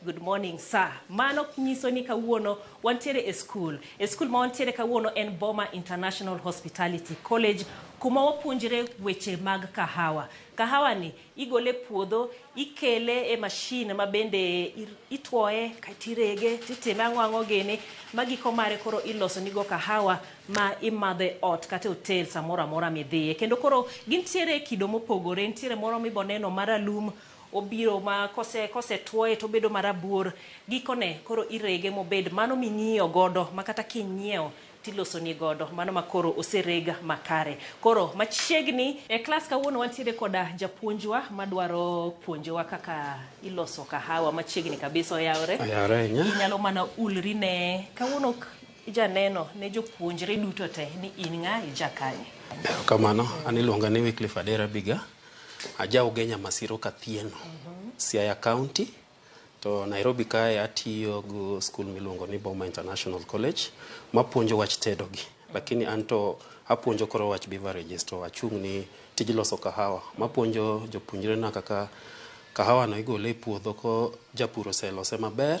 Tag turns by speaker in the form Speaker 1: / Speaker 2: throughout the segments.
Speaker 1: Good morning sir. Mano nyiso ni kawuono wantiere e skul. E skul ma wantiere kawuono en Boma International Hospitality College kuma wapuonjre weche mag kahawa. Kahawa ni igole e puodho, ikele e machine ma bende itwoye kaito irege titime ang'o ang'o gini ma giko mare koro iloso ni go kahawa ma imadho e ot kata e hotel samoro amora midhiye. Kendo koro gintiere e kido mopogore, nitiere moro miboneno maralum, Obiro ma kose kose tuoye to obedo marabuor. Gikone koro irege mobed mano ming'iyo godo ma kata kinyiewo tilosoni godo mano ma koro osereg makare. Koro machiegni. E klas kawuono wantiere koda japuonjwa madwaro puonjowa kaka iloso kahawa machiegni kabisa oyawore. Oyawore ahinya. Inyalo mana ulri ne. Kawuono ok ijaneno ne jopuonjre duto te ni in ng'a, ija kanye. Erokamano.
Speaker 2: An iluonga ni Wycliffe Adera Biga. Aja Ugenya Masiro Kathieno, Siaya County. To Nairobi kae atiyo gi skul miluongo ni Boma International College mapuonjo wach tedo gi. Lakini an to apuonjo koro wach beverages to achung' ni tij loso kahawa. Mapuonjo jopuonjre na kaka kahawa no igole e puodho ko japur oselose maber.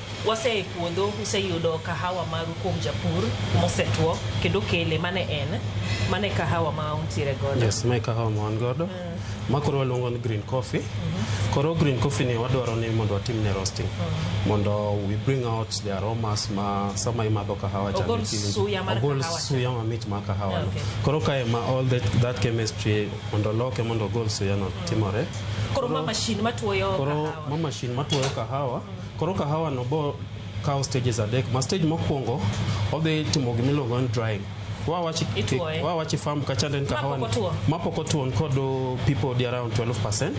Speaker 1: Wase e puodho useyudo kahawa maru kuom japur mosetwo kendo kele mane en mane kahawa ma untiere godo. Yes, mae kahawa ma wan
Speaker 2: godo. Ma koro waluongo ni green coffee. Koro green coffee ni wadwaro ni mondo watim ne roasting. Mondo we bring out the aromas ma sama imadho kahawa cha Ogol niki winjo. suya mar
Speaker 1: Ogol kahawa cha. suya mamit ma
Speaker 2: kahawa no. Okay. Koro kae ma all that, that chemistry mondo loke mondo ogol suya no timore. Koro ma mashin
Speaker 1: matuoyo Koro kahawa. ma mashin
Speaker 2: matuoyo kahawa Koro kahawa no bo kawo stages adek ma stage mokwongo odhi timo gima iluongo ni drying wawachi Ituoye. wawachi farm kachande ni kahawa Mapok otuo. mapok otuo ni kod uh, people di around 12%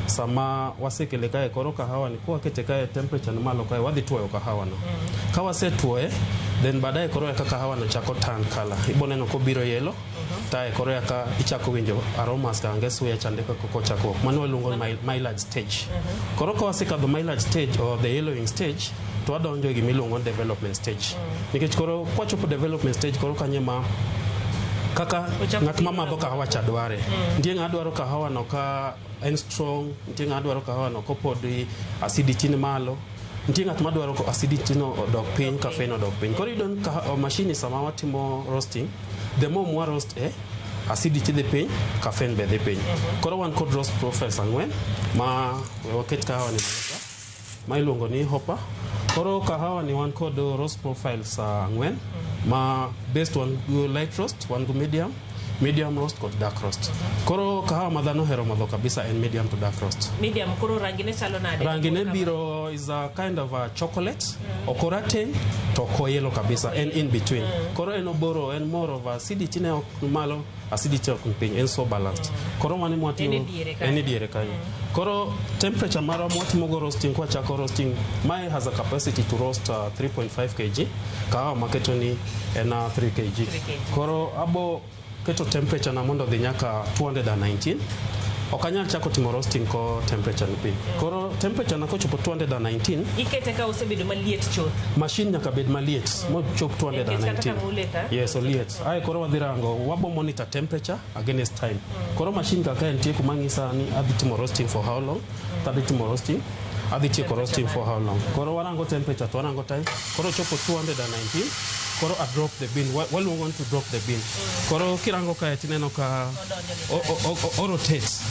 Speaker 2: sama wasekele kae koro kahawa ni kwakete kae temperature ni malo kae wadhi tuoyo kahawa no ka wasetuoye then baadaye koro eka kahawa no chako turn color iboneno kobiro yellow Tae koro eka ichako winjo aromas ka nge suya chande kaka kochakruok. Mano waluongo ni myelage stage. Koro ka wasekadho myelage stage or the yellowing stage to wadonjo e gima iluongo ni development stage. Nikech koro kwachopo development stage koro kanye ma kaka ng'at ma madho kahawa cha dware. Nitie ng'ama dwaro kahawa no ka en strong, nitie ng'ama dwaro kahawa no kopodi acidity ni malo. Nitie ng'at madwaro ko acidity no odok piny, caffeine odok piny. Koro iyudo ni kahawa mashini sama watimo roasting, the more mwa roast e, acidity dhi piny, caffeine be dhi piny. Koro wan kod roast profiles ang'wen ma we waket kahawa ni. ma iluongo ni Hopper. Koro kahawa ni wan kod roast profiles ah, ang'wen ma best wan go light roast, wan go medium, medium roast kod dark roast. Koro kahawa ma dhano ohero madho kabisa en medium to dark roast. Medium koro rangi ne
Speaker 1: chalo nade? Rangi ne biro
Speaker 2: is a kind of a chocolate, ok orateng to ok oyelo kabisa, en in between. Koro en oboro, en more of acidity ne ok malo acidity ok ni piny en so balanced koro mane mwatiyo En e diere kanyo. en e diere kanyo koro temperature marwa mwatimo go roasting kwa chako roasting mae has a capacity to roast uh, 3.5 kg kahawa maketo ni en uh, 3 kg kg. koro abo keto temperature na mondo dhi nyaka 219 ok anyal chako timo roasting ko temperature ni piny koro temperature na kochopo 219 ikete ka osebedo
Speaker 1: maliet chuth machine nyaka bed
Speaker 2: maliet mochop Nikech kata 219 kama uleta- yes oliet Aye koro wadhi rango, wabo monitor temperature against time. Koro machine kaka en tie kuma ng'isa ni adhi timo roasting for how long, to adhi timo roasting, adhi tieko roasting for how long. Koro warango temperature to warango time, koro chopo 219, koro a drop the bean, Wa- waluongo ni to drop the bean. Koro kirango kae tineno ka o- o- o- o- o rotates.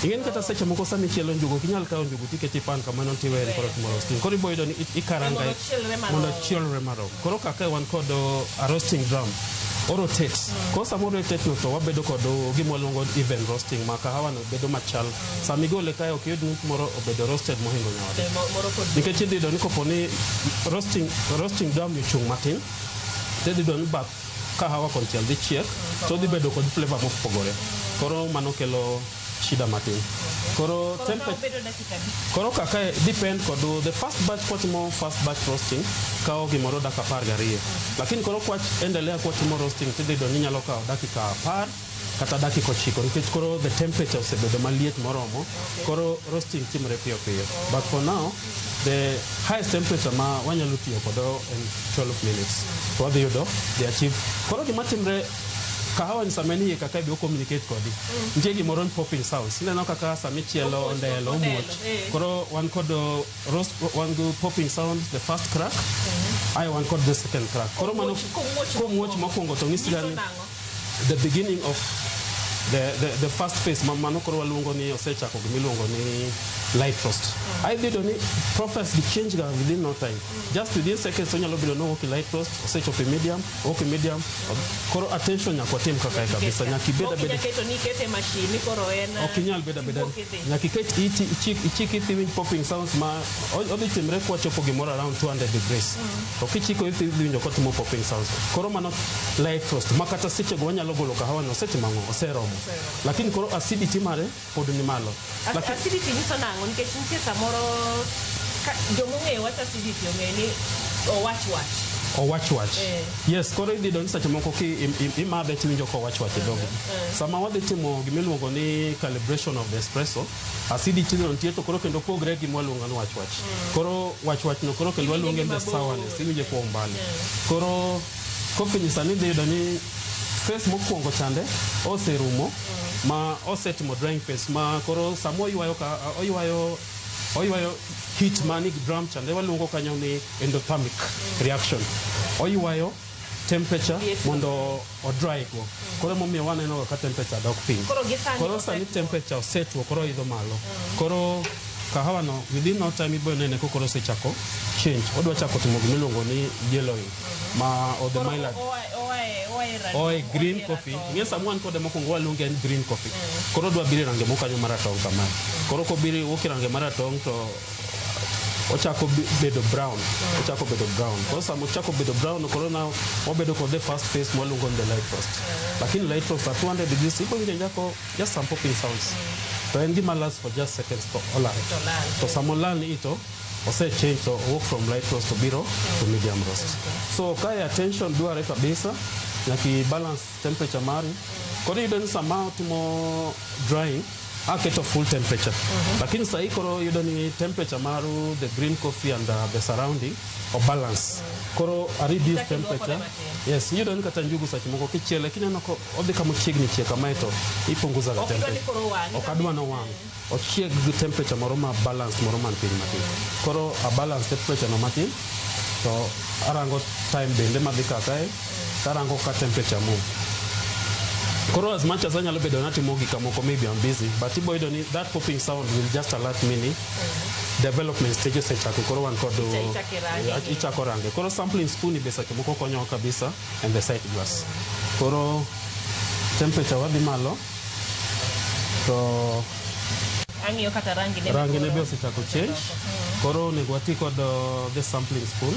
Speaker 2: Ing'eni kata seche moko sama ichielo njugu, ok inyal kawo njugu tikete e pan kamano tiweye ni koro timo roasting. Koro iboyudo ni i- ikarangae Chielre marom. mondo chielre marom koro kaka wan kod uh, a roasting drum orotate koro sama orotate no to wabedo kod uh, gima waluongo even roasting ma kahawa no bedo machal sama igole kae ok yud ni moro obedo roasted mohingo nyawade Eh, mo- Moro kod nikech idhi yudo ni kopo ni roasting, roasting drum ochung' matin to idhi yudo ni bath kahawa konchiel dhi chiek to dhi bedo kod flavor mopogore koro mano kelo shida matin. Koro Koro tempe- kawo bedo dakika adi? Koro kaka depend kod the first batch kwatimo first batch roasting kawo gimoro dakika apar gariyo lakini koro kwach endelea kwatimo roasting tidhi yudo ni nyalo kawo dakika apar kata dakika ochiko nikech koro the temperature osebedo maliet moromo koro roasting timore piyo piyo but for now the highest temperature ma wanyalo tiyo kodo en 12 minutes to wadhi yudo the achieve koro gima timre Kahawa ni sama nie kaka ibi communicate kodi. Mm. Nitie gimoro ni popping sounds. Ineno kaka sama ichielo ondelo omuoch. Eh. Koro wan kod uh, roast wan go popping sound the first crack. Mm. Ayo wan kod the second crack. Koro mano komuoch mokwongo to ng'isi gani the beginning of the, the, the first phase ma mano koro waluongo ni osechako gima iluongo ni light frost mm. aidhi yudo ni process gi change ga within no time mm. just within seconds onyalo bedo nowuok e light frost osechopo e medium Okay, medium. Koro attention nyaka watim kaka e kabisa. Nyaka ibed abeda. Nyaka iketo ni kete machine
Speaker 1: ni koro en. Ok inyal beda beda.
Speaker 2: Nyaka iket iti ichik ichik ithi winj popping sounds ma odhi timre kwa chopo gimoro around 200 degrees. Mm. Ok ichiko ithi winjo ka timo popping sounds. Koro mano light roast. Makata seche go wanyalo golo kahawa no seche mango oseromo. Lakini koro acidity mare pod ni malo. As- Lakini acidity nyiso
Speaker 1: nang'o nikech nitie samoro ka- jomong'eyo wach acidity ong'e ni owach wach owach
Speaker 2: wach. Eh. Yes, koro idhi donjo seche moko ki im- im- imadhe tiwinjo ka owach wach e dhogi. Sama wadhi timo gima iluongo ni calibration of the espresso, acidity no nitie to koro kendo pogre gi gima waluongo ni wach wach. Koro wach wach no koro kendo Iwinje waluonge gi the mabor. sourness, iwinje kwa umbali. Koro Kofinyisani idhi yudo ni phase mokuongo chande oserumo ma osetimo drying phase ma koro sama oywayo ka oywayo oywayo heat mani drum chande waluongo kanyo ni endothermic reaction. Oywayo temperature mondo o dry go. Koro emomiyo waneno ga ka temperature dok piny. Koro gi sani Koro sani osetwo. temperature osetwo koro oidho malo. Koro kahawa no within no time ibiro nene ko koro osechako change. Odwa chako timo gima iluongo ni yellowing. ma or the Koro mylan oa oa e oa e ralum. oe green Oa e coffee ratong'. ing'e sama wan kode mokwongo waluonge en green coffee koro odwa biro e range moko kanyo maratong' kamae koro kobiro wuok e range maratong' to ochako bi- bedo brown ochako bedo brown koro sama ochako bedo brown koro na wabedo kode first phase mwaluongo ni the light roast lakini light roast at 200 degrees iko winjo nyako just some popping sounds to en gima last for just seconds to olal To lal. to sama olal ni ito ose change to owuok from light roast to biro to medium roast so kae attention dwarre kabisa nyaka i balance temperature mari koro iyudo ni sama otimo drying aketo full temperature lakini sahii koro yudo ni temperature maru the green coffee and uh, the surrounding obalance koro a reduce Chaki duoko temperature ne matin. yes iyudo ni kata njugu seche moko kichiele kineno ko odhi kama chiegni chiek kamae to ipunguza ga Ok idwa ni temperature koro owang'. ok adwa nowang' Ochiek gi temperature moro ma balance moro man piny matin. Koro a balance temperature no matin to arango time bende madhi ka kae tarango ka temperature move. Koro as much as anyalo bedo natimo gik moko maybe I'm busy but ibo yudo ni that popping sound will just alert me ni development stage osechako koro wan kod Ichako irange. Yeah, ichako range. Koro sampling spoon be seche moko konyowa kabisa and the sight glass. Koro temperature wadhi malo to Ang'iyo kata
Speaker 1: rangi ne rangi ne be osechako
Speaker 2: change koro onego wati kod uh, the sampling spoon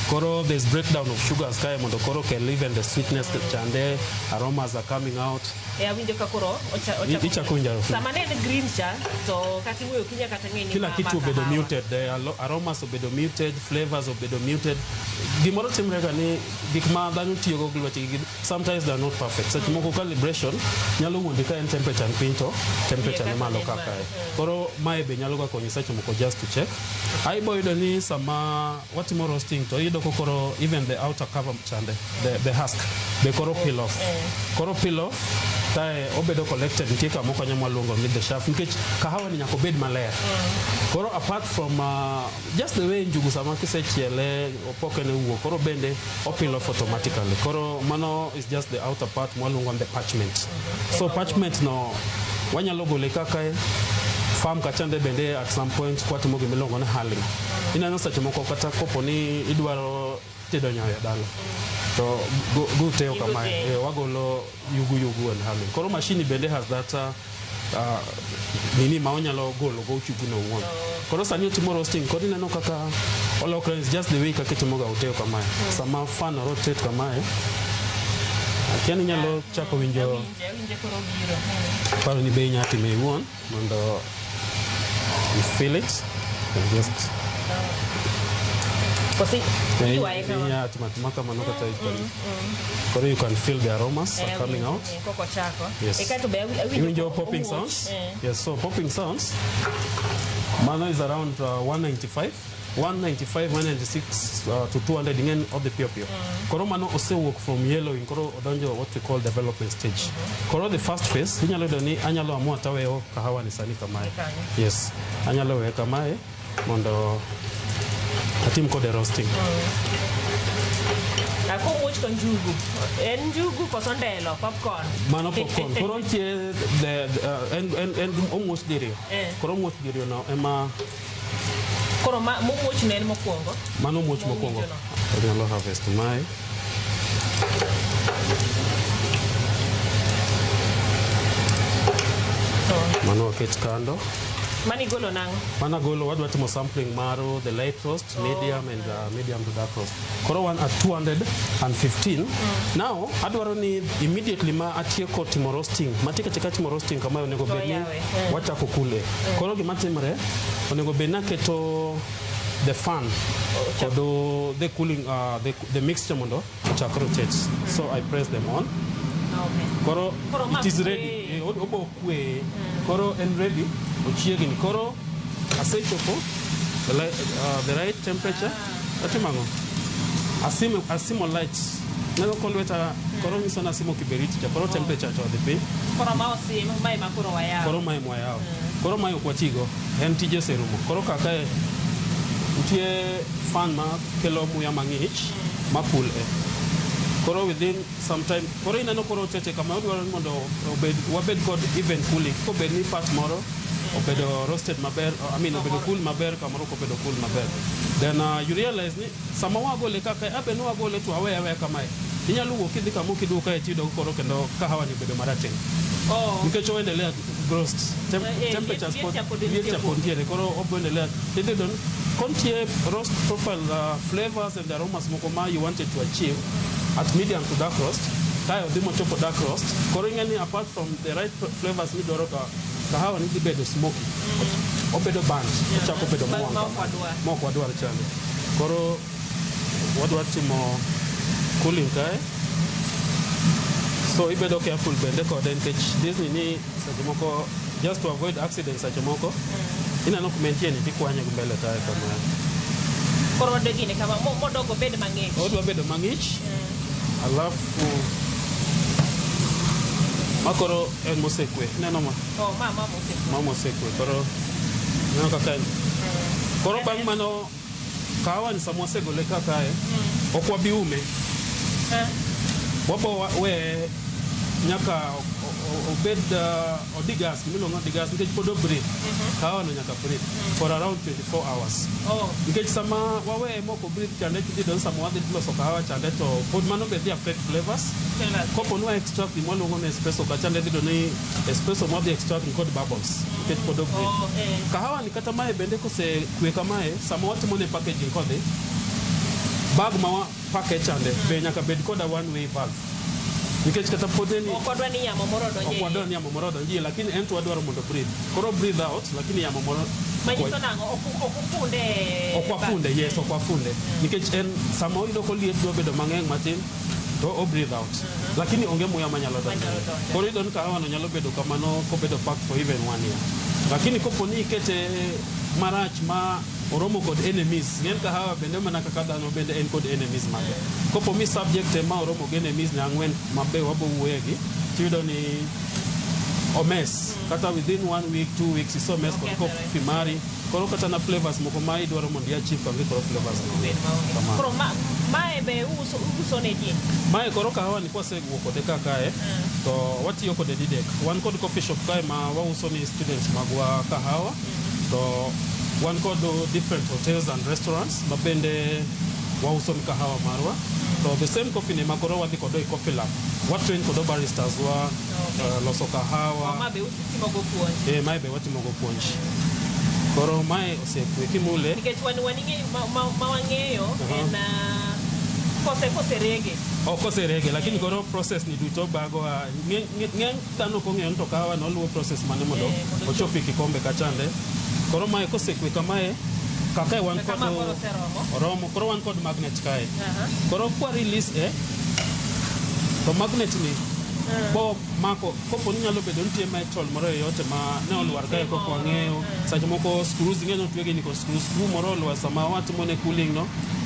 Speaker 2: koro there's breakdown of sugars kae mondo koro kel even the sweetness chande aromas are coming out Eh, awinjo ka
Speaker 1: koro ocha- I- ichako winjo harufu.
Speaker 2: sama ne en green cha
Speaker 1: to kata iwuoyo kinya kata ng'e ni kila ma- kitu ma obedo kahawa.
Speaker 2: muted eh, alo- aromas obedo muted flavors obedo muted gimoro timrega ni gik ma dhano tiyogo gi lwetgi gi- Sometimes they are not perfect. Seche moko calibration nyalo wuondi ka en temperature ni piny to temperature ni malo ka kae. Koro mae be nyalo ga konyi seche moko just to check. Ai bo yudo ni sama watimo roasting to iyudo ko koro even the outer cover chande, the, the husk be koro peel off. Koro peel off kae obedo collected nitie kama okonyo mwaluongo ni the shaft nikech kahawa ni nyaka obed maler. Koro apart from uh, Just the way njugu sama kisechiele opoke ne wuok koro bende opilo automatically koro mano is just the outer part mwaluongo the parchment so parchment no wanyalo gole kaka farm kachande bende at some point kwatimo gimiluongo ni hulling ineno seche moko kata kopo ni idwaro Tedo nyoyo dala to go, go teo Yugu kamae teo. eh, wagolo yugu yugu and halo koro mashini bende has that uh, uh, nini ma onyalo golo go yugu no owuon koro sani otimo roasting koro ineno kaka olokre is just the way kaka itimoga uteo kamae sama fan rotate kamae akiani nyalo chako winjo Awinje, awinje
Speaker 1: koro biro. paro ni be
Speaker 2: inyalo time iwuon mondo you fill it and just Kosi Yeah, iwaye you- kama. yeah, tuma- tuma kama noko cha ikoni. Koro you can feel the aromas are Eh, coming wi- out. eh, koko chako. Yes. Eh, kato be awi- awinjo Even your ko- popping owuoch. sounds. Eh. Yes, so popping sounds. Mano is around uh, 195. 195, 196 uh, to 200 ing'en odhi piyo piyo. Koro mano osewuok from yellowing koro odonjo what we call development stage. Koro the first phase inyalo yudo ni anyalo amua taweyo kahawa ni sani kamae. Yes. Anyalo weye kamae mondo atim kode roasting. Akomuoch
Speaker 1: to njugu. En njugu koso ndelo, popcorn. Mano popcorn. Koro
Speaker 2: nitie the, the, uh, en, en, en omuoch diriyo. Eh. Koro omuoch diriyo no ema
Speaker 1: Koro ma momuoch ne en mokwongo. Mano muoch mokwongo.
Speaker 2: Onyalo harvest mae. Mano waket kando. Mani golo
Speaker 1: nang'o? Mana golo wadwa timo
Speaker 2: sampling mar the light roast, medium and uh, medium to dark roast. Koro wan at 215. Now adwaro ni immediately ma atieko timo roasting, matieko chika timo roasting kama onego bed ni wachako kule. Koro gima timre onego bed naketo the fan kod uh, the cooling uh, the, the mixture mondo ochak rotate. So I press them on. Okay. Koro Koro ma it is kwe. ready. Eh, ob- Obo kwe. Koro en ready. Ochiegni. Koro asechopo the, li- uh, the right temperature. Atimo ang'o? Asimo, asimo light. Neno ko lweta koro nyiso ni asimo kiberiti cha koro temperature cha odhi piny. Koro ma osim,
Speaker 1: ma ema koro wayawo. Koro mae mwayawo.
Speaker 2: Koro mae ok watigo. En tije oserumo. Koro kaka e, nitie fan ma kelo muya mang'ich ma cool e. Koro within sometime koro ineno koro seche kama odwaro mondo obed wabed kod even cooling kobed ni part moro obedo roasted maber I mean obedo cool maber kamoro kobedo cool maber then uh, you realize ni sama wagole kaka abe ni wagole to awe awe kamae inyalo wuok idhi kama kiduo kae tiyudo koro kendo kahawa ni obedo marateng oh. nikech oendelea roast Tem eh, eh temperatures pod liet chapod ntiere koro oboendelea idhi don kontie roast profile uh, flavors The aromas moko ma you wanted to achieve at medium to dark roast kae odhi mochopo dark roast koro ing'e ni apart from the right flavors midwaro ka kahawa ni dhi bedo smoky obedo burnt ochako bedo Ba- mowang' ma ok wadwar. ma ok wadwar chande koro wadwar timo cooling kae so ibedo careful bende kode nikech disney ni Seche moko just to avoid accidents seche moko ineno kuma entie ni tikwanye gi mbele taya kama. Koro wadwa gine
Speaker 1: kama mo- modok obed mang'ich. Odwa bedo mang'ich
Speaker 2: alafu ma koro en mosekwe ineno ma Oh, ma ma mose. ma mosekwe koro ineno kaka en koro bang' mano Kahawa ni sama wasegole ka kae, ok wabi ume. Eh. Wabo wa- weye nyaka o- o- obed uh, odigas, gimiluongo ni odigas nikech pod obreathe. Kahawa no nyaka breathe for around 24 hours. Oh. Nikech sama waweye mok obreathe chande kidhi don sama wadhi loso kahawa chande to pod mano be dhi affect flavors. Tell us. Kopo ni wa extract gima waluongo ni espresso ka chande dhi doni espresso mwadhi extract ni kod bubbles nikech pod obreathe. Oh, eh. Kahawa Kata mae bende kosekwe kamae, sama watimo ne packaging kodhi, bag ma wa package chande be nyaka bed koda one way bag. Nikech kata pode ni Ok wadwa ni yamo moro
Speaker 1: ok odonje. wadwa ni yamo moro odonjie lakini en to wadwaro mondo
Speaker 2: breathe. Koro breathe out lakini yamo moro Manyiso nang'o?
Speaker 1: Ok ok ufunde.
Speaker 2: ok wafunde, yes ok wafunde. Nikech en sama oyudo koliet dwa bedo mang'eng' matin to o breathe out lakini onge muya manyalo donjo Manyalo donjo. koro idon ka hawano nyalo bedo kamano kobedo packed for even one year lakini kopo ni ikete marach ma oromo kod enemies ng'en ka hawa bende mana kaka dhano bende en kod enemies mage kopo mi subject ema oromo gi enemies ne ang'wen mabe wabo wuoyegi tiyudo ni omes kata within one week two weeks isomes kod Okethore. kofi mari Koro kata na flavors moko ma idwaro mondo ia chief onge koro flavors no. Bed maonge. Kamano. Koro ma
Speaker 1: mae be uso uso ne ji. Mae koro kahawa ni
Speaker 2: kwasewuok kode ka kae to watiyo kode didek. Wan kod coffee shop kae ma wauso ni students magwa kahawa to wan kod different hotels and restaurants ma bende wauso ni kahawa marwa. To the same coffee ni ma koro wadhi kode e coffee lab. Watrain kod baristas wa eh, loso kahawa. Ma be uso
Speaker 1: Timogo puonj. Eh, mae be watimogo puonj.
Speaker 2: Koro mae osekwe
Speaker 1: kimule. Nikech wan wan
Speaker 2: ing'eyo
Speaker 1: ma, ma, ma wang'eyo Aha. en ah, kose kose rege. Ok oserege lakini
Speaker 2: koro process ni duto bago a ng'e- ng'e- ng'eny dhano ok ong'eyo ni to kahawa no luwo process mane mondo Eh, mondo ochop e kikombe kachande. Koro mae kosekwe kamae kakae wan kod Kama koro oseromo. oromo koro wan kod magnet kae. Aha. Koro kwa release e to magnet ni bo mako Kopo ni nyalo bedo nitie metal moro e yote ma ne olwar kae kok wang'eyo. Seche moko screws ing'e ni otwegi ni ko screw screw moro olwar sama watimo ne cooling no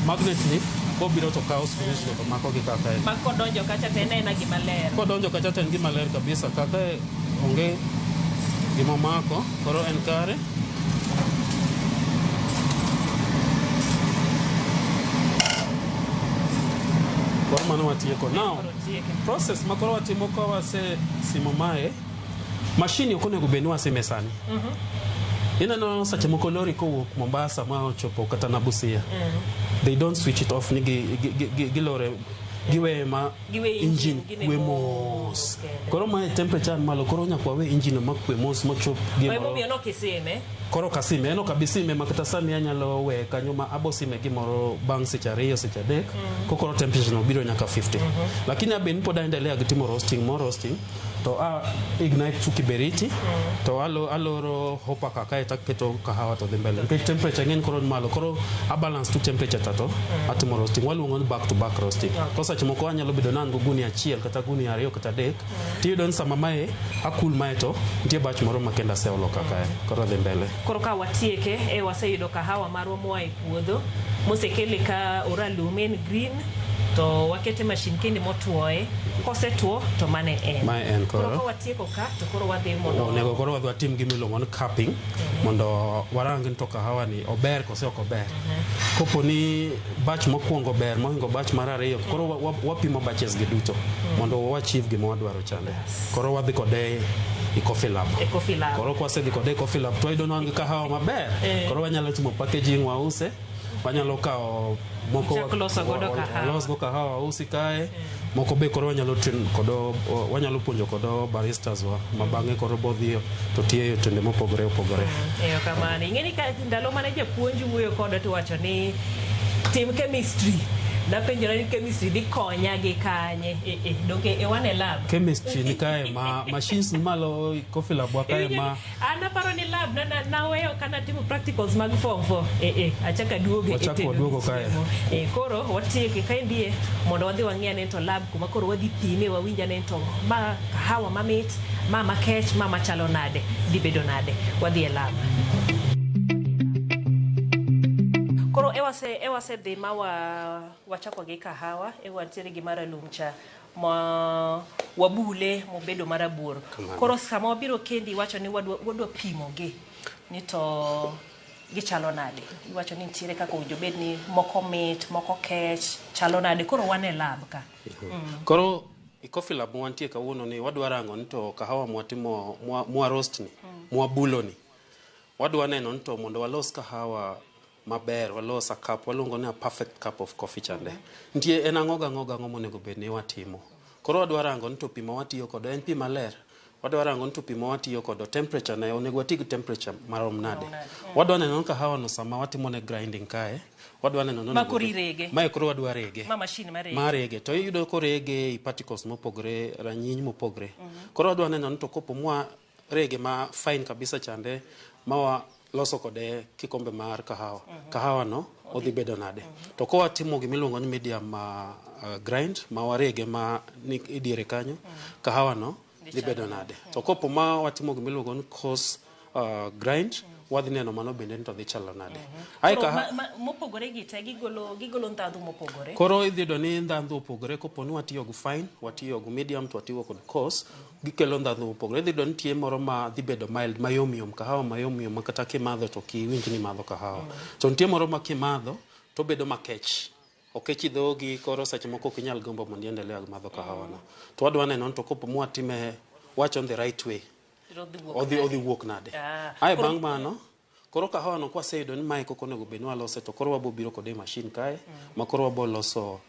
Speaker 2: magnet ni kobiro to kawo screws go to mako gi kaka en. Ma kodonjo kacha to en aena gima
Speaker 1: ler. Kodonjo kacha to en gima
Speaker 2: ler kabisa kaka e- onge gima omako koro en kare. Koro mano watieko. Now process ma koro watimo ka wasesimo mae mashini ok onego bed ni wasime sani ineno seche moko lori kowuok mombasa ma ochopo kata na busia they don't switch it off ni gi- gi- gi- gi- gilore giweye ma Giwe engine, engine gine kwe mos. mos koro mae temperature ni malo koro nyaka wawe engine ma kwe mos mochop Kwa hivyo gimoro miono kiseme
Speaker 1: Koro ka sime en ok
Speaker 2: abi sime ma kata sani anyalo we kanyo ma abo sime gimoro bang' seche ariyo seche adek mm. kokoro temperature no biro nyaka 50 mm -hmm. lakini abe ni pod aendelea gi timo roasting mo roasting to a ignite su kiberiti mm. to alo, aloro hopa kaka eta keto kahawa to dhi mbele nikech temperature ng'eny koro malo koro a balance tu temperature tato mm. atimo roasting waluongo ni back to back roasting okay. ko seche moko anyalo bedo nan go guni achiel kata guni ariyo kata adek tiyudo ni sama mae akul mae to nitie bach moro ma kendo aseolo ka kae koro dhi mbele koro ka watieke
Speaker 1: e waseyudo kahawa marwa moa e puodho mosekele ka oralum en green to wakete mashin kende motwoye kosetwo to mane en Mae en koro. ka watieko ka
Speaker 2: to koro
Speaker 1: wadhi mondo onego koro wadhi watim
Speaker 2: gima iluongo ni capping mondo warang ni to kahawa ni ober ose ok ober. Kopo ni batch mokwongo ber mohingo batch mar ariyo, koro wa- wa- wapimo batches gi duto mondo wa achieve gima wadwaro chande. Koro wadhi kode e coffee lab. E coffee lab. Koro kwasedhi kode e coffee lab to wayudo ni wan gi kahawa maber. Eh. Koro wanyalo timo packaging wause, wanyalo kawo moko Chak loso godo wa- wa- kahawa. walos go kahawa wausi kae. moko be koro wanyalo train kodo o- wanyalo puonjo kodo baristas wa ma bang'e koro bodhi to tiyo e otende mopogore opogore erokamano
Speaker 1: ing'e ni ka ndalo mane japuonj wuoyo koda to wacho ni tim chemistry napenjora ni chemistry dhi konya gi kanye Eh, eh, donge e wane lab chemistry ni kae
Speaker 2: ma machines ni malo coffee lab wa kae ma An aparo ni
Speaker 1: lab na na- naweyo ka natimo practicals mag form four. Eh eh, achaka duogo e Wachak tedo waduogo gi kae. chiemo.
Speaker 2: Eh koro
Speaker 1: watieke ka endie mondo wadhi wang'e ane to lab kuma koro wadhi pime wawinj ane to ma kahawa mamit, ma makech, ma machalo nade, dhi bedo nade. Wadhi e lab. Koro ewase ewase dhi ma wa wachako gi kahawa, ewantiere gi maralum cha. ma wabule mobedo marabuor koro sama wabiro kendi iwacho ni wadwa, wadwa pimogi ni to gichalo nade iwacho ni nitiere kaka owinjo bed ni moko mit moko kech chalo nade koro wan e lab ka mm. koro
Speaker 2: e coffee lab wantie kawuono ni wadwa rango ni to kahawa mwatimo mwa, mwa roast ni mm. mwabulo ni wadwa neno ni to mondo walos kahawa maber walos a cup waluongo ni a perfect cup of coffee chande nitie en ang'o gang'o gang'o monego bed ni watimo koro wadwa rango ni to pi ma watiyo kodo en pi maler wadwa rango ni to pi ma watiyo kodo temperature ne onego wati gi temperature marom nade wadwa neno ni kahawa no sama watimo ne grinding kae wadwa neno ni Ma onego koro bed- irege. mae koro
Speaker 1: wadwa rege
Speaker 2: Ma mashin marege. marege
Speaker 1: to iyudo
Speaker 2: korege i particles mopogore ranyiny mopogre koro wadwa neno ni to kopo mwa Rege ma fine kabisa chande ma waloso kode kikombe mar kahawa. Kahawa no odhi bedo nade? To ka watimo gima iluongo ni medium ma uh, grind ma warege ma ni idiere kanyo, kahawa no dhi bedo nade? To kopo ma watimo gima iluongo ni coarse uh, grind, wadhi neno mano bende ni to dhi chalo nade. Ae Koro kaha- ma- ma-
Speaker 1: mopogore gi te gigolo gigolo ndhadhu mopogore. Koro idhi yudo ni
Speaker 2: ndhandhu opogore kopo ni watiyo gi fine, watiyo gi medium to watiyo kod coarse. Gikelo ndhadhu mopogore. Idhi yudo nitie moro ma dhi bedo mild, mayom yom, kahawa mayom yom ma kata kimadho to ok iwinj ni imadho kahawa. To nitie moro ma kimadho to obedo makech. Okechi dhogi koro seche moko ok inyal gombo mondo i endelea gi madho kahawa no. To wadwa neno ni to kopo ma watime, wawache on the right way, odhi wuok nade. Ae bang' mano. Koro kahawa no kwaseyudo ni mae e koko onego bed ni walose to koro wabo biro kode e machine kae ma koro wabo loso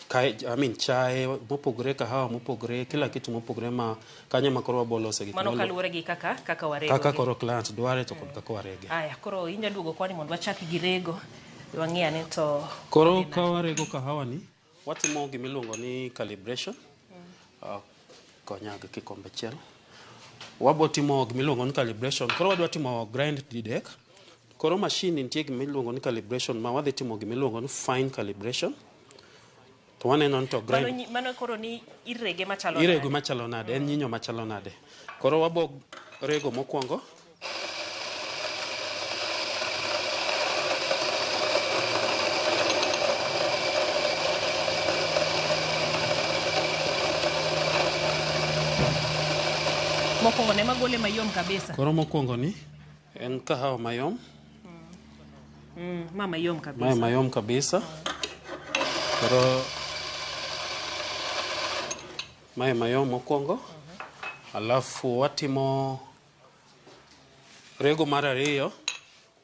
Speaker 2: kae I mean chae mopogore kahawa mopogore kila kitu mopogore ma kanyo ma koro wabo lose gik Mano mwalo- kaluwore gi kaka
Speaker 1: kaka warego. kaka koro
Speaker 2: client
Speaker 1: dware
Speaker 2: to
Speaker 1: kod kaka
Speaker 2: warege.
Speaker 1: Aya, koro
Speaker 2: inya duogo
Speaker 1: kwani
Speaker 2: mondo
Speaker 1: wachak
Speaker 2: gi
Speaker 1: rego. Wang'e ane to Koro ka warego
Speaker 2: kahawa ni Watimo gima iluongo ni calibration. Ah, Konya gi kikombe achiel. Wabo timo gima iluongo ni calibration. Koro wadwa timo grind didek. Koro mashin nitie gima iluongo ni calibration ma wadhi timo gima iluongo ni fine calibration. To waneno ni to Mano, grind nyi- mano koro ni
Speaker 1: irege machalo irego nade? machalo nade en nyinyo
Speaker 2: machalo nade koro wabo rego mokwongo
Speaker 1: mokwongo ne magole mayom kabisa koro mokwongo ni
Speaker 2: en kahawa mayom mm,
Speaker 1: ma mayom mae kabisa mayom kabisa
Speaker 2: koro mae mayom mokwongo alafu watimo Rego mar ariyo,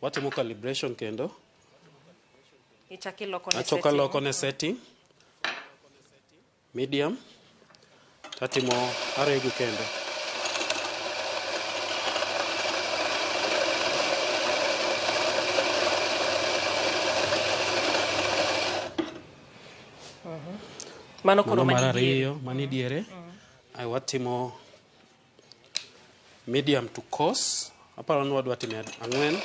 Speaker 2: watimo calibration kendo. Ichaki loko ne Achoka setting. loko ne setting. Medium. Tatimo arego kendo.
Speaker 1: Mano koro Mano mar mani diere. ariyo, mani diere.
Speaker 2: Ae watimo medium to coarse aparo ni wadwa time ang'wen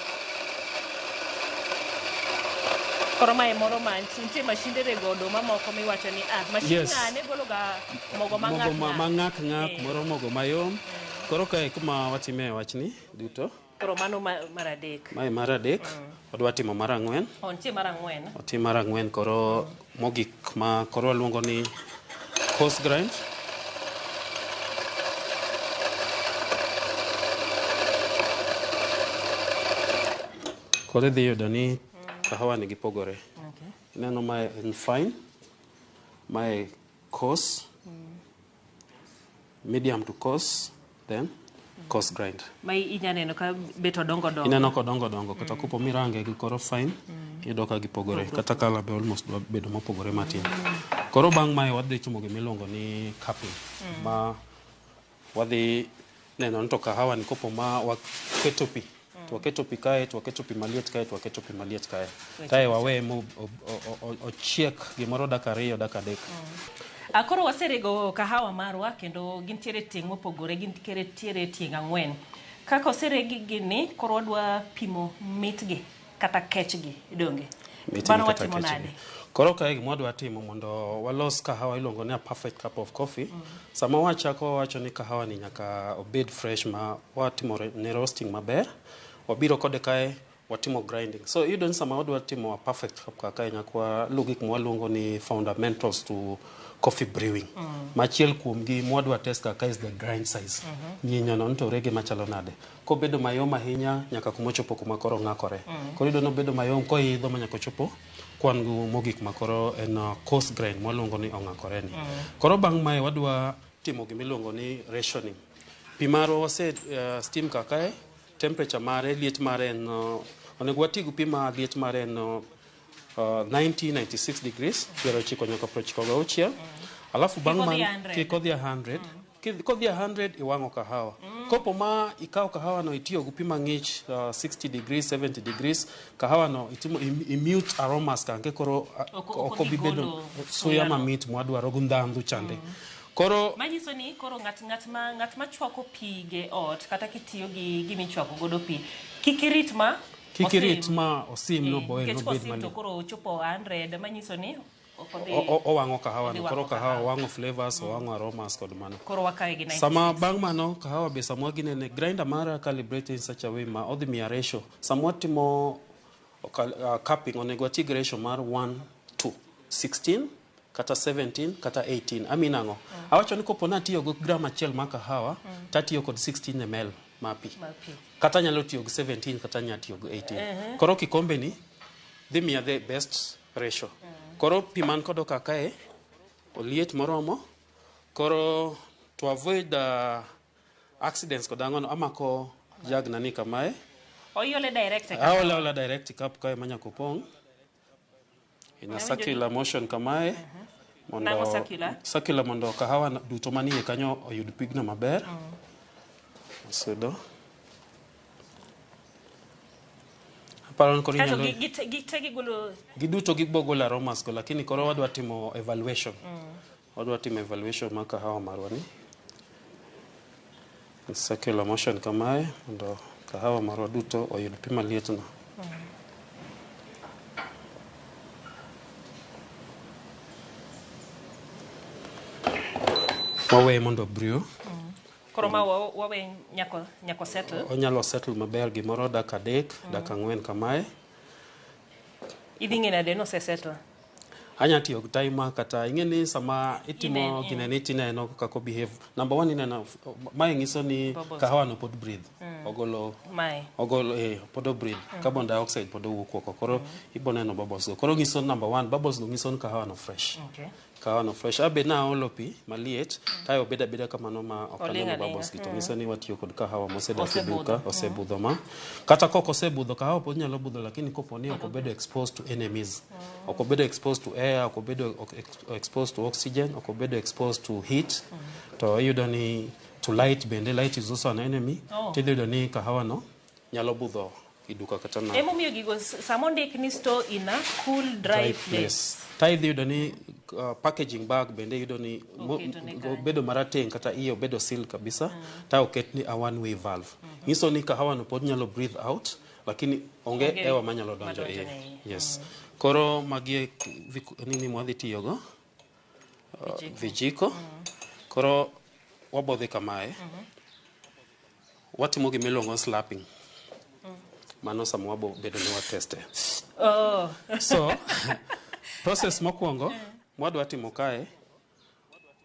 Speaker 1: koro mae moro ma nitie mashinde rego oduma moko miwacho ni ah mashin Yes. ng'ane gologa mogo ma mogo ma- ma ng'at ng'ak ng'ak
Speaker 2: moro mogo mayom koro kae kuma watime wachni duto
Speaker 1: Koro mano ma- mar adek. Mae mar adek,
Speaker 2: wadwa timo mar ang'wen. Oh, nitie mar ang'wen.
Speaker 1: Otim mar ang'wen koro
Speaker 2: mogik ma koro waluongo ni coarse grind. Koro idhi yudo ni kahawa ni gipogore. Okay. Ineno mae en fine, mae coarse, medium to coarse then coarse grind ma inya neno ka
Speaker 1: beto dongo dongo ineno kodongo dongo
Speaker 2: kata mm. kopo mirange gi koro fine mm. iyudo ka gipogore mm. kata kala be almost dwa bedo mopogore matin mm. koro bang' mae wadhi timo gimiluongo ni cupping mm. ma wadhi Neno ni to kahawa ni kopo ma waketo pi to waketo pi kae to waketo pi maliet kae to waketo pi maliet kae kae waweye mo- o- o- o- ochiek gimoro dakika ariyo dakika adek Ah, koro waserego
Speaker 1: kahawa marwa kendo gintiere tieng' mopogore gintiere tieng' ang'wen kaka oseregi gini koro wadwa pimo mitgi kata kechgi donge Mitini mano kata watimo kechgi. nade Koro kae gima wadwa
Speaker 2: timo mondo walos kahawa iluongo ni a perfect cup of coffee. Sama wachako wawacho ni kahawa ni nyaka obed fresh ma watimo re- ne roasting maber. Wabiro kode kae watimo grinding. So iyudo ni sama wadwa timo a perfect cup kaka kae nyaka waluw gik ma waluongo ni fundamentals to coffee brewing. Machiel kuomgi ma wadwa test kaka is the grind size. Nyinyono ni to rege machalo nade. kobedo mayom ahinya nyaka kuma ochopo kuma koro ong'akore. Mm. Koro iyudo ni obedo mayom koidho ma nyaka ochopo kwan gu mogik ma koro en uh, coarse grain mwaluongo ni ong'akore ni. Mm. Koro bang' mae wadwa timo gima iluongo ni rationing. Pi marwa wase uh, steam ka kae, temperature mare, liet mare en uh, onego wati gi pi ma liet mare en uh, 90 96 degrees, piero ochiko nyaka prochiko gauchiel. Mm. Alafu bang' Kik odhi man 100. kik odhi 100 Kidh- Kodhi 100 iwang'o kahawa. Kopo ma ikawo kahawa no itiyo gi pi mang'ich uh, 60 degrees, 70 degrees. Kahawa no itimo im- immute aromas kanke koro uh, Oko- ok oko obi bedo gigolo suya suya no. mamit mwadwaro gi ndhandhu chande. Koro manyiso ni koro
Speaker 1: ng'at ng'at ma ng'at ma chwako pige ot kata kitiyo gi gimi chwako godo pi kik irit ma kik irit osim. ma osim no Eh, boil nikech nobed kosim to malit. koro ochopo 100 manyiso ni Ok odhi. O- o- Owang'o
Speaker 2: kahawa no. Odhi Koro wang'o kahawa kahawa. wang'o flavors, owang'o aromas kod mano. Koro wakawe gi 96. Sama
Speaker 1: bang' mano kahawa
Speaker 2: be samwa ginene grinder mara calibrated in such a way ma odhi miya ratio. Samwa timo okal- ah, cupping onego ati gi ratio mar 1 to 16 kata 17 kata 18. Amin ang'o? Awacho ni kopo natiyo gi gram achiel mar kahawa tatiyo kod 16 ml mar pi. Mar pi. Kata nyalo tiyo gi 17 kata nyalo tiyo gi 18. Koro kikombeni dhi miya the best Ratio. Koro pi man kodo ka kae oliet moromo. Koro to avoid uh, accidents kod ang'ono amako jag nani kamae. Oiole
Speaker 1: direct e Aola ola direct cup
Speaker 2: kae manya kopong. In a circular motion kamae. Mondo, Nang'o
Speaker 1: circular? circular
Speaker 2: mondo kahawa na- duto manie kanyo oyud pigno maber. Sudo. Aparo ni koro Kaeto inyalo gi- gite- gite
Speaker 1: gigolo giduto gibogol
Speaker 2: aromas go lakini koro wadwa timo evaluation wadwa timo evaluation mar kahawa marwa ni In circular motion kamae mondo kahawa marwa duto oyud pi malietno wawe mondo brew Koro ma
Speaker 1: wa- wawe nyako nyako settle. onyalo settle maber
Speaker 2: gimoro dakika adek dakika ang'wen kamae
Speaker 1: Idhi ng'e nade nose settle? anya tiyo
Speaker 2: gi timer kata ing'e ni sama itimo Inen- in- gineni tineno kaka behave number one ineno mae nyiso ni Bubbles. kahawano pod breathe ogolo Mae. ogolo eh, pod obreathe carbon dioxide pod owuok oko koro iboneno bubbles go koro nyiso number one bubbles go nyiso ni kahawano fresh Okay. Kawano fresh. Abe na olo pi maliet, kae obeda beda kamano ma ok Oling' aneno alinga. bubbles gi. To Mm. ng'iso ni watiyo kod kahawa mosedak e Osebudho. duka, osebudho ma. Kata kok osebudho, kahawa pod nyalo budho lakini kopo ni ok obedo exposed to enemies. Ok obedo exposed to air, ok obedo ok- ex- exposed to oxygen, ok obedo exposed to heat. To iyudo ni to light bende, light is also an enemy. Oh. Tidhi yudo ni kahawa no nyalo budho kiduka kata na Emomiyo gigo s- sama
Speaker 1: ondik ni store in a cool dry, place. tithe iyudo ni
Speaker 2: uh, packaging bag bende iyudo ni mo- Oketo ne go- bedo marateng kata iye obedo seal kabisa ta oket ni a one way valve nyiso ni kahawano pod nyalo breathe out lakini onge Onge hewa manyalo donjo madonjo iye ne iye. yes koro magi e k- vik- nini mwadhi tiyogo uh, vijiko koro wabodhi kamae Watimo gima iluongo ni slapping. Mano sama wabo bedo ni wateste. Oh. So, process mokwongo mwadwa timo kae,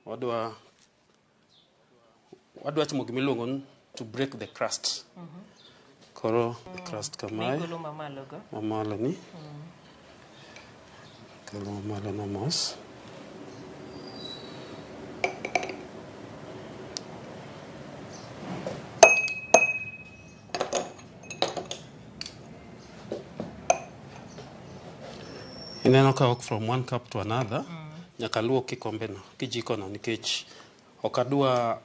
Speaker 2: wadwa wadwa timo gima iluongo ni to break the crust. Koro the crust kamae, Golo mamalogo. mamalo ni. Kelo malona mos. Ineno ka ok from one cup to another. Nyaka luok kikombeno, kijikono nikech ok adwa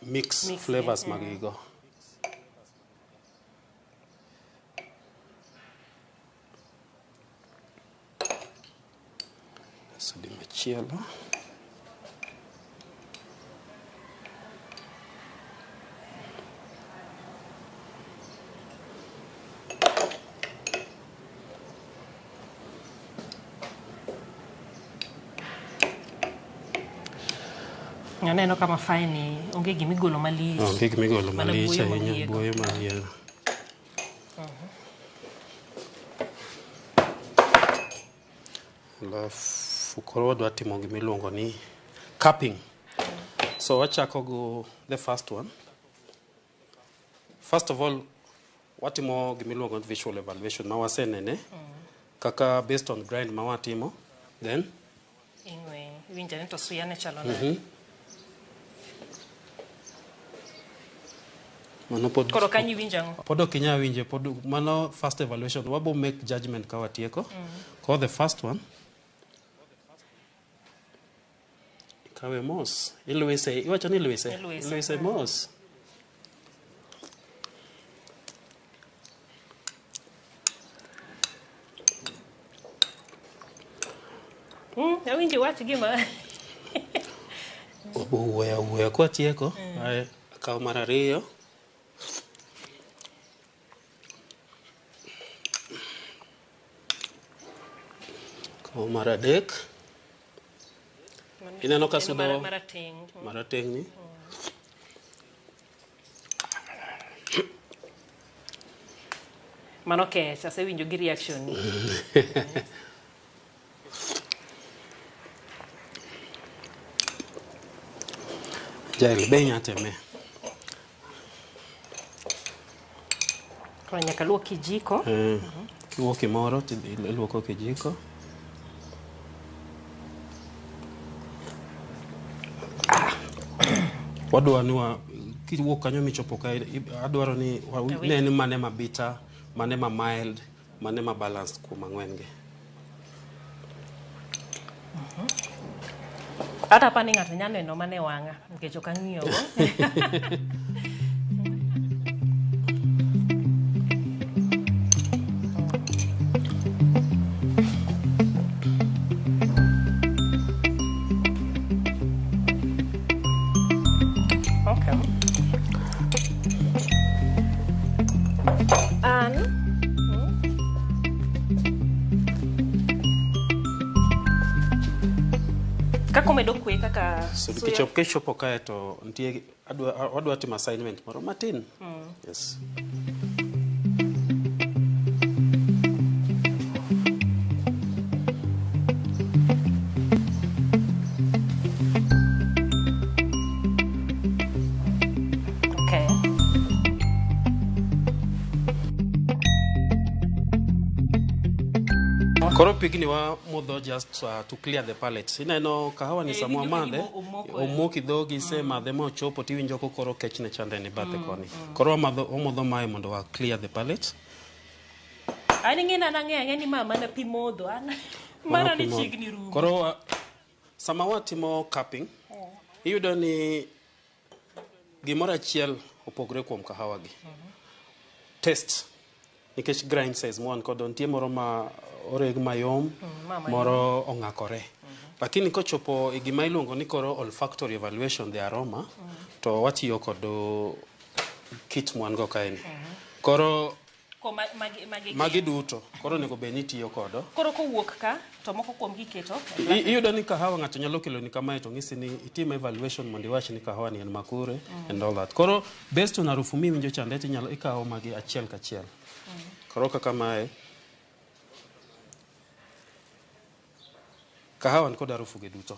Speaker 2: mix Mix, flavors eh. magigo. Kaso di machielo.
Speaker 1: Aneno ka mafae ni onge gima igolo malich. Onge gima igolo Mana
Speaker 2: malich buoyo ahinya, mahiego. buoyo mahiego. Alafu koro wadwa timo gima iluongo ni cupping. So wachako go the first one. First of all, watimo gima iluongo ni visual evaluation ma wasenene kaka based on grind ma watimo then Ing'we,
Speaker 1: iwinjo ni to suya ne chalo nade?
Speaker 2: mano pod Koro kanyo iwinjo ang'o? pod
Speaker 1: ok inyal winje pod
Speaker 2: mano first evaluation wabo make judgment ka watieko koro the first one Ikawe mos. Ilwise. Iwacho ni ilwise. Ilwise. Ilwise mos.
Speaker 1: Mm, awinji wach gima.
Speaker 2: Owuoyo awuoyo kwatieko. Aye, Akaw mar ariyo. Kawo mar adek. Mano Ineno ka en sudo- mara- marateng. Mm. Marateng'ni.
Speaker 1: Mano kech, asewinjo gi reaction.
Speaker 2: Jael be inya teme.
Speaker 1: Koro nyaka luok kijiko. Eh, kiluoko
Speaker 2: kimoro to iluoko kijiko. Wadwa ni wa kiwuok kanyo michopo ka i- adwaro ni wa- Awinj. ne ni mane ma bitter, mane ma mild, Mane ma balanced kuom ang'wen gi?
Speaker 1: Kata apani ng'ato nyalo neno mana e wang'a nikech ok ang'iyo go. An kaka omedo kwe kaka So suya- kichop kichopo
Speaker 2: kae to nitie adwa wadwa timo assignment moro matin. Yes. Koro pigni wa mudho just uh, to clear the palate. Ineno kahawa ni Eh, samwa iwinjo ka madhe, gima omoko e- omoki dhogi ise madhe ma ochopo tiwinjo ko koro kech ne chande ni bathe Mm, koni. mm. Koro wamadho omodho mae mondo wa clear the palate.
Speaker 1: Ani ng'e nana ng'e ang'e ni ma mana pi modho. An- Mano Mana pi ni modho. chiegni rumo. Koro wa-
Speaker 2: Sama watimo cupping, iyudo ni gimoro achiel opogre kuom kahawa gi. Taste. Nikech grind size mwan kodo, nitie moro ma oreg mayom, ma mayom. moro ong'akore. Lakini kochopo e gima iluongo ni koro olfactory evaluation, the aroma, to watiyo kod uh, kit mwan go kaeni. Koro Ko ma- magi- magi gin. magi duto koro onego bed ni itiyo kodo Koro kowuok ka
Speaker 1: to moko kuom giketo. I- iyudo ni kahawa
Speaker 2: ng'ato nyalo keloni kamae to ng'isi ni itim evaluation mondo iwach ni kahawa ni en makure and all that koro based on harufu miwinjo chande to inyalo ikawo magi achiel kachiel koro kaka mae kahawa ni kod harufuge duto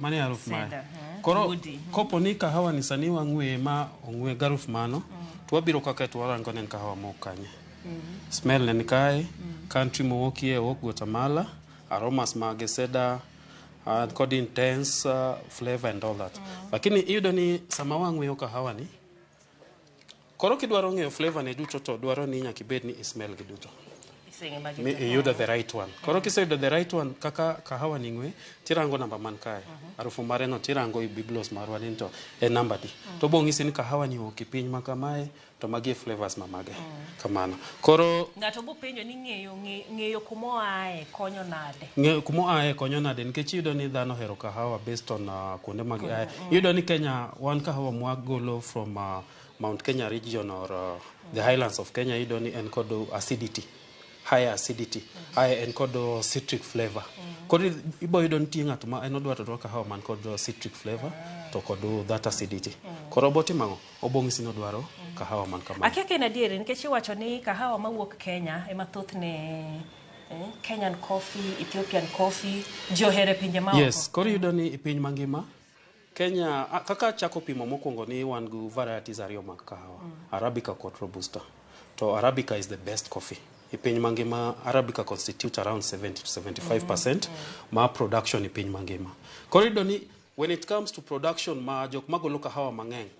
Speaker 2: Mano e aruf mare. Cedar, eh, Koro woody. kopo ni kahawa ni sani wang'weye ma ong'we garuf mano, to wabiro kaka to warango ne en kahawa mok kanye. Smell ne ni kae, country mowokie owok Guatemala, aromas mage cedar, uh, kod intense uh, flavor and all that. Lakini iyudo ni sama wang'weyo kahawa ni, Koro kidwaro ng'eyo flavor ne duto to dwaro ni nyaka ibed ni ismell gi duto. Mi iyudo the right one. Koro kiseyudo the right one kaka kahawa ni ng'we tirango namba man kae. Harufu mare no tirango i biblos marwa ni to e namba di. To bo ng'isi ni kahawa ni oki piny ma kamae to magi e flavors ma mage. Kamano. Koro Ng'ato bo penjo ni
Speaker 1: ng'eyo ng'e- ng'eyo kuma oae konyo nade. ng'e kuma oae konyo
Speaker 2: nade nikech iyudo ni dhano ohero kahawa based on uh, kuonde ma giae. Iyudo ni Kenya wan kahawa mwagolo from uh, Mount Kenya region or uh, the highlands of Kenya iyudo ni en kod acidity high acidity high en kod uh, citric flavor koro i- ibo yudo nitie ng'ato ma en odwa to odwa kahawa man kod uh, citric flavor to kod uh, that acidity koro obotimo ang'o obong'isi ni odwaro kahawa man kamano Akia ka en adieri nikech
Speaker 1: iwacho ni kahawa mawuok Kenya ema thothne eh, Kenyan coffee, Ethiopian coffee, ji ohere pinje maoko. yes koro iyudo ni i
Speaker 2: piny mangima Kenya kaka achako pimo mokwongo ni wan gi varieties ariyo mag kahawa, Arabica kod Robusta. To Arabica is the best coffee. E piny mangima Arabica constitute around 70 to 75% ma production e piny mangima. Koro iyudo ni when it comes to production ma jok magolo kahawa mang'eny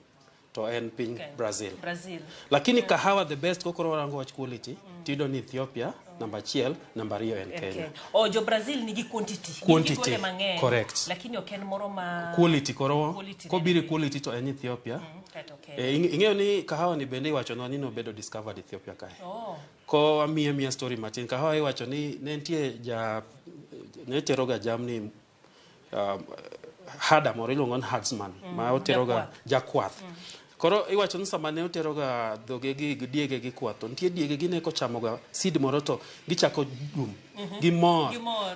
Speaker 2: to en piny Kenya. Brazil. Brazil. Lakini kahawa the best kokoro warango wach quality tiyudo ni Ethiopia namba achiel, namba ariyo en En Kenya. Kenya. O jo Brazil nigi
Speaker 1: quantity. Nigi Quantity, kuonde mang'eny. correct. Lakini ok
Speaker 2: en moro ma
Speaker 1: Quality koro Quality
Speaker 2: kobiri nene. quality to en Ethiopia. Mm, kato Kenya. Eh, ing- ing'eyo ni kahawa ni bende iwachonwa ni nobedo discovered Ethiopia kae. Oh. Ko amiye miya story matin. Kahawa iwacho ni ne nitie ja ne teroga jamni uh, hada moro iluongo ni herdsman mm, ma oteroga jakwath mm. koro iwacho ni sama ne oteroga dhogegi gi diegegi kwath to nitie diegegi ne kochamoga seed moro to gichako dum mhm. gimor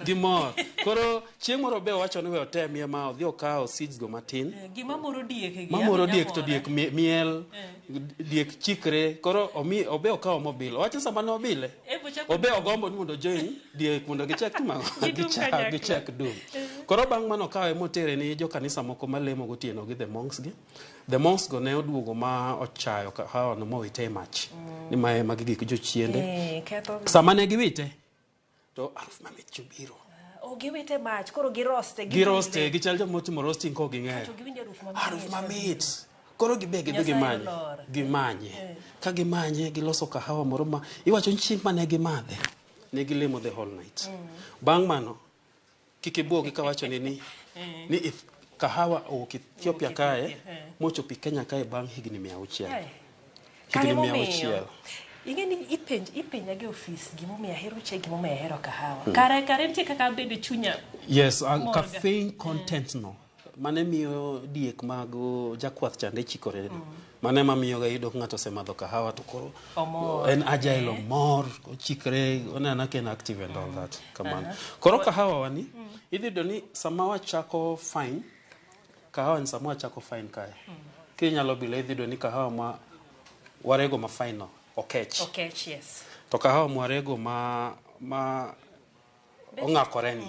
Speaker 2: gimor koro chieng' moro be owacho ni we otemie ma odhi okawo seeds go matin eh,
Speaker 1: mamoro diek to diek
Speaker 2: miel eh. diek chikre koro obe okawo mobile owacho sama ne obile eh, obe ogombo ni mondo join Die mondo gichak timo ang'o? Gidum Gichak- kanyakla. gichak dum koro bang' mano kawe motere ni jokanisa moko malemo gotieno gi the monks gi the monks go ne oduogo ma ochayo ka- haono mowite e mach ni ma magi gik jochiende Eh, ketho sama ne giwite to aruf mamit chobiro oh, giwite
Speaker 1: mach koro giroste giroste gichal joma
Speaker 2: otimo roasting kok ging'eyo to giwinjo aruf mamit aruf mamit koro gibe gidhi Nyasaye gimanye olor. gimanye ka gimanye giloso kahawa moro ma iwacho ni chieng' mane gimadhe ne gilemo the whole night bang' mano kik ibuogi kawachone ni ni ith- kahawa owuok ethiopia kae mochopo i kenya kae bang' higni mia auchiel Ai. Ka higni
Speaker 1: mia gimomiyo, auchiel ing'e ni ipenj ipenja gi ofis gimomiyo ahero chai gimomiyo ahero kahawa kare kare nitie kaka abedo chunya yes ah, Morga.
Speaker 2: caffeine content no mane miyo diek mag uh, jakwath chande chikore no mane ma miyo gayudo ka ng'ato osemadho kahawa to koro Omor. en agile omor ochikre onena ka en active and all that kamano koro kahawa wani idhi yudo ni sama wachako fine kahawa ni sama wachako fine kae kinyalo bila idhi yudo ni kahawa ma warego ma fine no okech Okay, yes. to
Speaker 1: kahawa mwarego
Speaker 2: ma ma ong'akore ni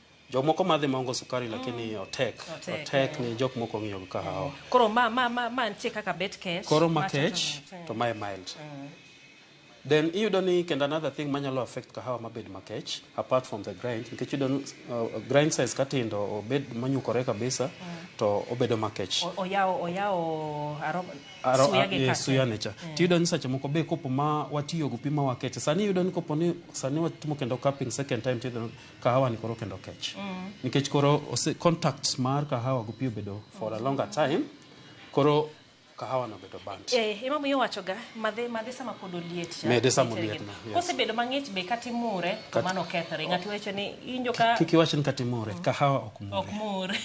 Speaker 2: Jomoko madhi mongo sukari lakini otek. Otek, Otek ni jok moko ng'iyo gi kahawa. Koro ma ma ma
Speaker 1: ma nitie kaka bet kech. Koro ma macha kech to mit.
Speaker 2: to mae mild. Then iyudo ni kendo another thing manyalo affect kahawa mabed makech apart from the grind nikech iyudo ni, uh, grind size katindo obed monyukore kabisa to obedo makech. O- Oyawo oyawo
Speaker 1: aroma Aro- suya a- gi eh, kate. suya ne cha
Speaker 2: tiyudo ni seche moko be kopo ma watiyo gi pi ma wakeche sani iyudo ni kopo ni sani watimo kendo cupping second time tiyudo ni kahawa ni koro kendo kech nikech koro ose contact mar kahawa gi pi obedo for a longer time koro kahawa no obedo burnt Eh, ema miyo wachoga
Speaker 1: madhe madhe sama pod oliet cha. Mede sama Nitie oliet gini. na, yes.
Speaker 2: Kosebedo mang'ich be
Speaker 1: kata imure to Kat- mano kethore. Ng'ato wacho ni injo ka kik iwach ni katimore
Speaker 2: kahawa ok mure ok mure.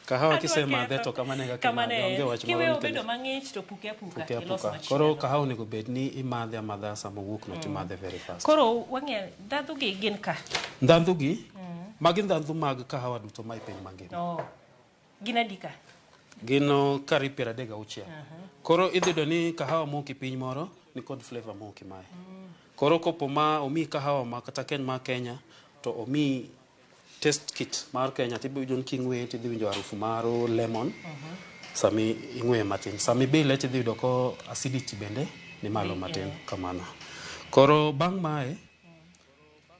Speaker 2: Kahawa kisemadhe to kamano e kaka Kamano imadhe, e. onge wach moro Kiweyo nikech- obedo mang'ich
Speaker 1: to puke apuka, puke ilos apuka. machielo. Koro kahawa onego bed
Speaker 2: ni imadhe amadha sama owuok no timadhe very fast. Koro wang'e ndhadhu
Speaker 1: gi gin ka. Ndhandhu gi,
Speaker 2: magi ndhandhu mag kahawa duto ma e piny mangima. Oh. Gin adi
Speaker 1: ka? Gin oh,
Speaker 2: kari piero adek gauchiel. Koro idhi yudo ni kahawa moki piny moro ni kod flavor moki mae. Koro kopo ma omi kahawa ma kata ken ma Kenya to omi test kit mar Kenya to iwinjo ni king'weye to idhi winjo harufu mar lemon sama ing'weye matin. Sama ibile to idhi yudo ko acidity bende ni malo matin kamano. Koro bang' mae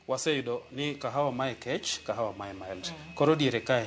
Speaker 2: waseyudo ni kahawa mae kech, kahawa mae mild. Koro diere kae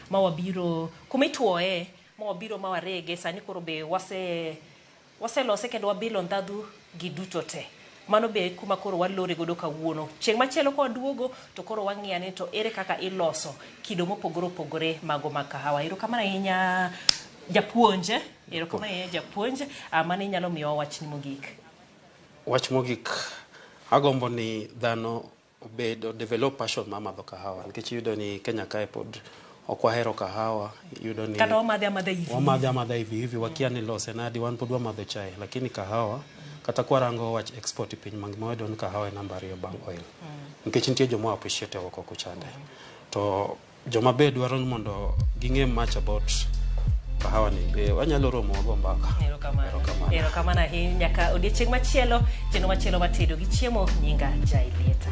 Speaker 1: ma wabiro kuma ituoye ma wabiro ma warege sani koro be wase waselose kendo wabilo ndhadhu gi duto te mano be kuma koro walore godo kawuono chieng' machielo ka waduogo to koro wang'iya ni to ere kaka iloso kido mopogore opogore mago mag kahawa erokamano ahinya japuonj erokamano ahinya japuonj Ah, mano inyalo miyowa wachni mogik wach
Speaker 2: mogik agombo ni dhano obed o develop passion mar madho kahawa nikech iyudo ni Kenya kae pod ok wahero kahawa iyudo ni kata wamadhe amadha hivi wamadhe
Speaker 1: amadha hivi hivi wakia ni lose nadi wan pod wamadho chai lakini kahawa kata kwarango wach export e piny mangima wayudo ni kahawa e namba ariyo bang' oil nikech nitie joma appreciate oko kuchande to Joma be dwaro ni mondo ging'e much about kahawa ni be wanyalo romo wago mbaka. Erokamano. Erokamano. Erokamano ahinya nyaka odiechieng' machielo, chenro machielo mar tedo gi chiemo nyinga Jailieta.